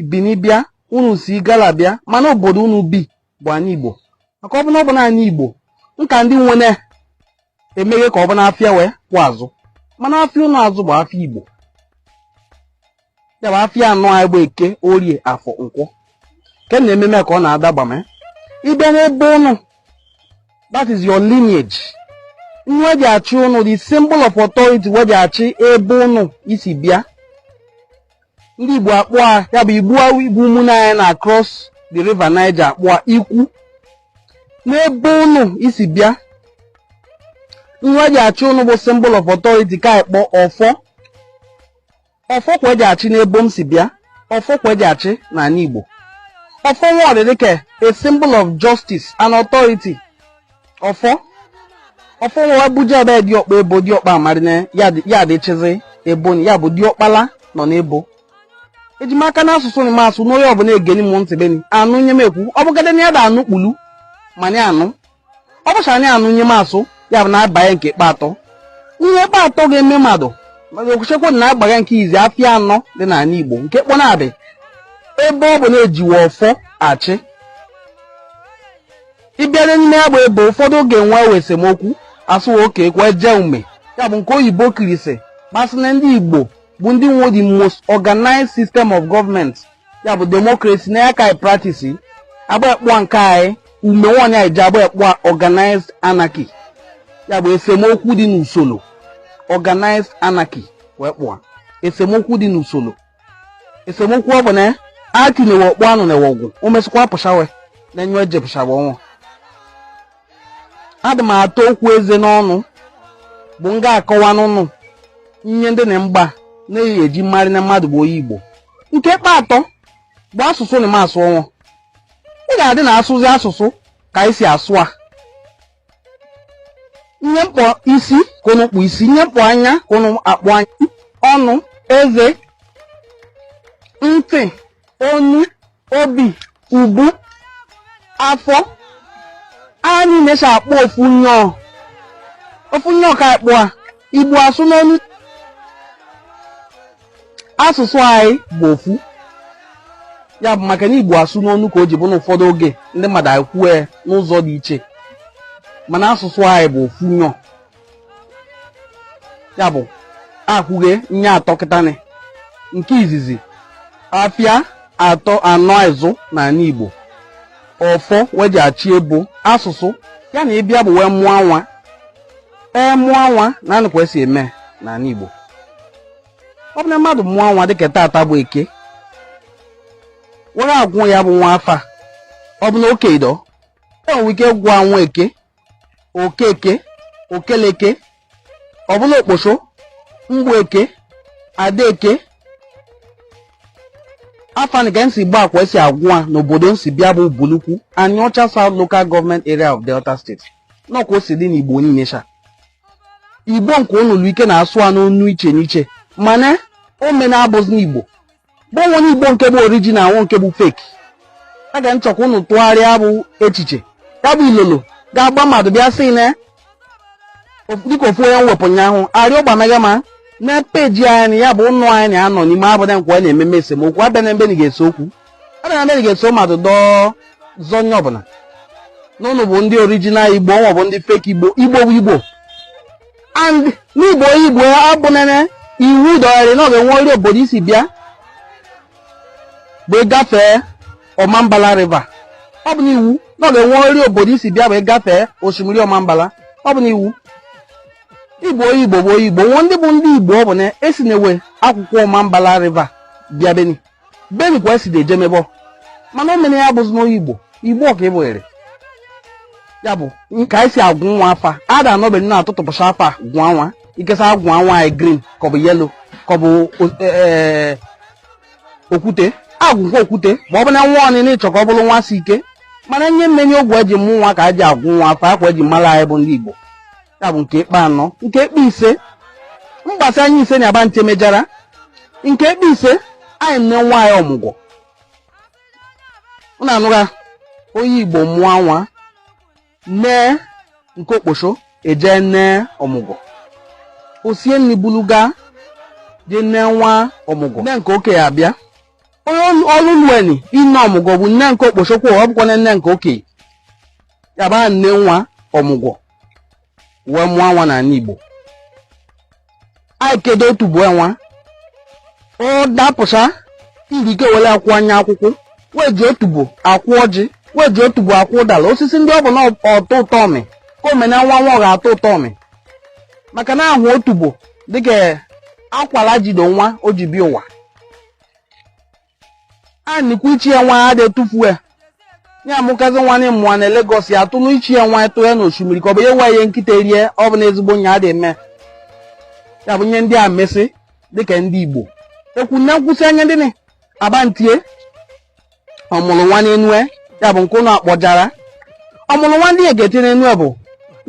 Bini bịa unu si Igala bịa mana obodo unu bi bụ anị Igbo maka ọ bụ na ọ bụ n'anị Igbo nka ndị nwene emeghe ka ọ bụ n'afịa we ka azụ mana afịa ụnụ azụ bụ afịa Igbo ya bụ afịa anọ anyị bụ Eke Orie Afọ Nkwọ ke na ememe ka ọ na-adaba ma ịbịa n'ebe ụnụ that is your lineage nye we ji achị ụnụ the symbol of authority we ji achị ebe ụnụ isi bịa ndị Igbo akpọ a ya bụ Igbo a Igbo ụmụnne anyị na across the river Niger akpọ a ikwu n'ebe ụnụ isi bịa nye we ji achị ụnụ bụ symbol of authority ka anyị kpọ ọfọ ọfọ kwa eji achị n'ebe m si bịa ọfọ kwa eji achị n'anị Igbo ọfọ nwa dị dị ka a symbol of justice and authority ọfọ ọfọ nwa ebuje ebe diọkpa ebo diọkpa amarịna ya dị- ya dị chịzị ebo ya bụ diọkpala nọ n'ebo eji m aka n'asụsụ na m asụ n'onye ọbụla egeni m ntị beni anụ nye m ekwu ọ bụgade na ya da anụ kpulu mana anụ ọ bụcha na anụ nye m asụ ya bụ na abanye nke ikpe atọ ihe ikpe atọ ga-eme mmadụ maka ekwuchekwa na agbaga nke izu afịa anọ dị n'anị Igbo nke kpọ na-abị ebe ọ bụ na-ejiwe ọfọ achị ị bịade n'ime ya bụ ebo ụfọdụ oge nwewe esemokwu asụwa oke ekwe je ume ya bụ nke oyibo kirisi masị na ndị Igbo bụ ndị nwe the most organized system of government ya bụ democracy na ya ka anyị practice agba ekpụa nke anyị ume nwaanyị anyị ji agba ekpụa organized anarchy ya bụ esemokwu dị n'usoro organized anarchy wee kpọ a esemokwu dị n'usoro esemokwu ọ bụ na atinyewe ọkpọ anụwa ọgụ o mesịkwa pụchawe na enyo eje pụchawa ọnwụ adị m ata okwu eze n'ọnụ bụ m ga-akọwa n'ụnụ nye ndị na mgba na-eyi eji marị na mmadụ bụ onye Igbo nke kpa atọ bụ asụsụ na m asụ ọnwụ ị ga-adị na asụzi asụsụ ka anyị si asụ a ihe m kpọ isi ka ụnụ kpọ isi ihe m kpọ anya ka ụnụ akpọ anya ọnụ eze ntị onu obi ubu afọ anyị na-esi akpọ ofu nyọọ ofu nyọọ ka akpọ a Igbo asụ n'onu asụsụ anyị bụ ofu ya bụ maka na igbo asụ n'onu ka o ji bụ na ụfọdụ oge ndị mmadụ ekwue n'ụzọ dị iche mana asụsụ anyị bụ ofu nyọ ya bụ ekwuge ihe atọ kịtanị nke izizi afịa anọ izu na anị igbo ọfọ we ji achị ebo asụsụ ya na ị bịa bụ wee mụọ nwa a mụọ nwa na anụkwa esi eme n'anị igbo ọ bụ na mmadụ mụọ nwa dịka tata bụ eke were agwụ ya bụ nwa afa ọ bụ na okei dọ e nwere ike gwụọ nwaeke okeke okeleke ọ bụ na okposo mgbeke adaeke afa nị ke nsi gba akwa esi agwụ a n'obodo n si bịa bụ ubulu ukwu anịọcha South Local Government Area of Delta State n'ọkwa o si dị n'Igbo niile sha igbo nke ụnụ lụ ike na-asụ a n'onu iche n'iche mana o mena abụzi na igbo bụ e nwe igbo nke bụ original nwe nke bụ fake a ga-achọ ka ụnụ tụgharịa bụ echiche ya bụ ilolo ga-agba mmadụ bịa sị na dịka ofu onye wepụ ụnyaahụ arịọ gbanaga ma na peji anyị ya bụ ụnụ anyị na-anọ n'ime abụda nkwa na-ememe esemokwu abịa n'ebeni ga-ese okwu abịa n'ebeni ga-eso mmadụ dọọ zọ onye ọ bụ na ụnụ bụ ndị original igbo wa bụ ndị fake igbo igbo bụ igbo and n'igbo igbo abụnene iwu dọgharị na ọ ga-enwerịrị obodo i si bịa bụ ị gafee ọmambala river ọ bụ n'iwu na ọ ga-enwerịrị obodo i si bịa bụ ị gafee osimiri ọmambala ọ bụ n'iwu igbo igbo bụ igbo nwe ndị bụ ndị igbo ọ bụ na e si n'ebe akụkụ ọmambala river bịa beni beni kwa esi dị eje mebọ mana o meni ya bụzi na onye igbo igbo ka ị bụrịrị ya bụ ka anyị si agwụ nwa afa a da anọ ebeni na-atụtụpụcha afa gwụọ nwa ikesa agwụọ nwa anyị green ka ọ bụ yellow ka ọ bụ e, e, okwute agwụọ ya okwute ma ọ bụ na nwa ọnị na ị chọ ka ọ bụrụ nwa si ike mana ihe meni oge e ji mụ nwa ka e ji agwụ nwa afa kwa e ji mara anyị bụ ndị igbo ya bụ nke ikpe anọ nke ikpe ise mgbasa anyị ise na agba nche mejara nke ikpe ise anyị nee nwa ọmụgwọ unu anụra onye igbo mụọ nwa nne nke okposho eje nee ọmụgwọ osie nri buluga je nee nwa ọmụgwọ nne nke okei abịa onye o lueni ine ọmụgwọ bụ nne nke okposho kwụ ọ bụkwa nne nke okei ya bịa nee nwa ọmụgwọ wee mụọ nwa n'ala Igbo anyị kedo otubo nwa ọ dapụsịa irike were akwụ anya akwụkwọ wee ji otubo akụ ọjị wee ji otubo akụ ụdara osisi ndị ọ bụ na ọ tọ ụtọ ọ mị ka omena nwa nwa ọ ga-atọ ụtọ ọ mị maka na a hụ otubo dịka akwara jido nwa o ji bịa ụwa e nikwu ichi nwa a dị etufu ya amụkazi nwa na ịmụwa na Lagos ya atụ n'ichi nwa tụ ya n'osimiri ka ọ bụ ya nwa ihe nkịta rie ọ bụ na ezigbo nya dị eme ya bụ nye ndị a mesị dịka ndị Igbo ekwu na nkwụsị anya ndị ni abantie ọ mụrụ nwa n'enue ya bụ nke ụlọ akpọjara ọ mụrụ nwa ndị egete n'enue bụ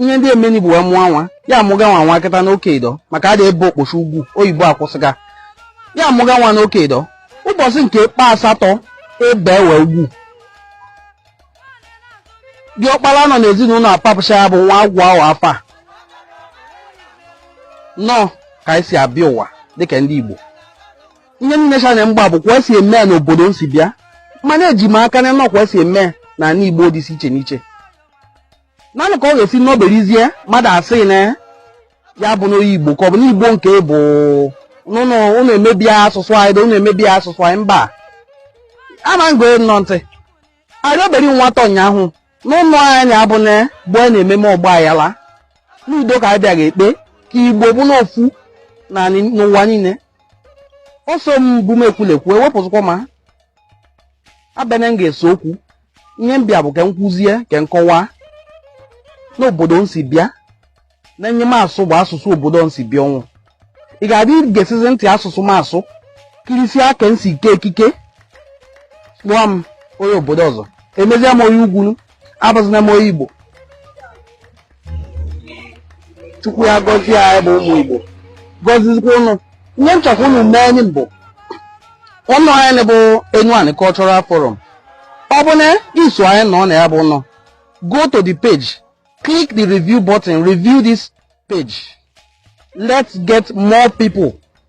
ihe ndị emeni bụ wee mụọ nwa ya amụga nwa nwa kịta nwoke ido maka a dị ebe okposho ugwu oyibo akwụsịga ya amụga nwa nwoke ido ụbọchị nke ikpe asatọ ebe ewe ugwu diọkpara nọ n'ezinụlọ apapụcha ya bụ nwa agụa nwa afa nnọọ ka anyị si abịa ụwa dịka ndị Igbo ihe niile cha na m gba bụ kwa esi eme ya n'obodo m si bịa mana eji m aka na nnọọ kwa esi eme ya n'ala Igbo dị iche iche n'iche naanị ka ọ ga-esi n'oberizie mmadụ asị na ya abụna onye igbo ka ọ bụ n'igbo nke bụ n'ụnụ ụnụ emebi asụsụ anyị dị ụnụ emebi asụsụ anyị mba ama ngo nọ ntị arị obere nwata ụnyaahụ n'ụlọ anyị abụ na bụ a na-ememe ọgba ayala n'udo ka anyị bịa ga-ekpe ka igbo bụrụ ofu na ni- n'ụwa niile ọsọ m bụ m ekwulekwu ewepụzịkwa m abịana m ga-ese okwu ihe m bịa bụ ka m kuzie ka m kọwaa n'obodo m si bịa na ihe m asụ bụ asụsụ obodo m si bịa ọ bụ ị ga-adị gesizi ntị asụsụ m asụ kirisie ka m si eke ekike kpọọ m onye obodo ọzọ emezie m onye ugwu abụzina m onye igbo chukwu ya gọzie anyị bụ ụmụ igbo gọzizikwa ụnụ ihe m chọkwa ụnụ mee anyị bụ ụnọ anyị bụ Enuani Cultural Forum ọ bụ na i so anyị nọ na ya bụ nọ go to the page click the review button review this page let's get more people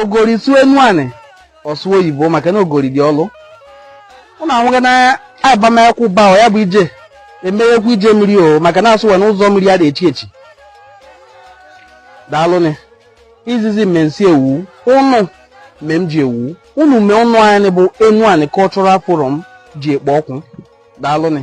ogori sụọ Enuani ọ sụ oyibo maka na ogori dị ọlụ ụnụ ahụghị na abamakwụ ba ọ ya bụ ije emeghekwa ije mmiri o maka na asụwa n'ụzọ mmiri a dị echi echi daalụnị izizi mme nsi ewu ụnụ mme m ji ewu ụnụ mee ụnọ anyị bụ Enuani Cultural Forum ji ekpo ọkụ daalụnị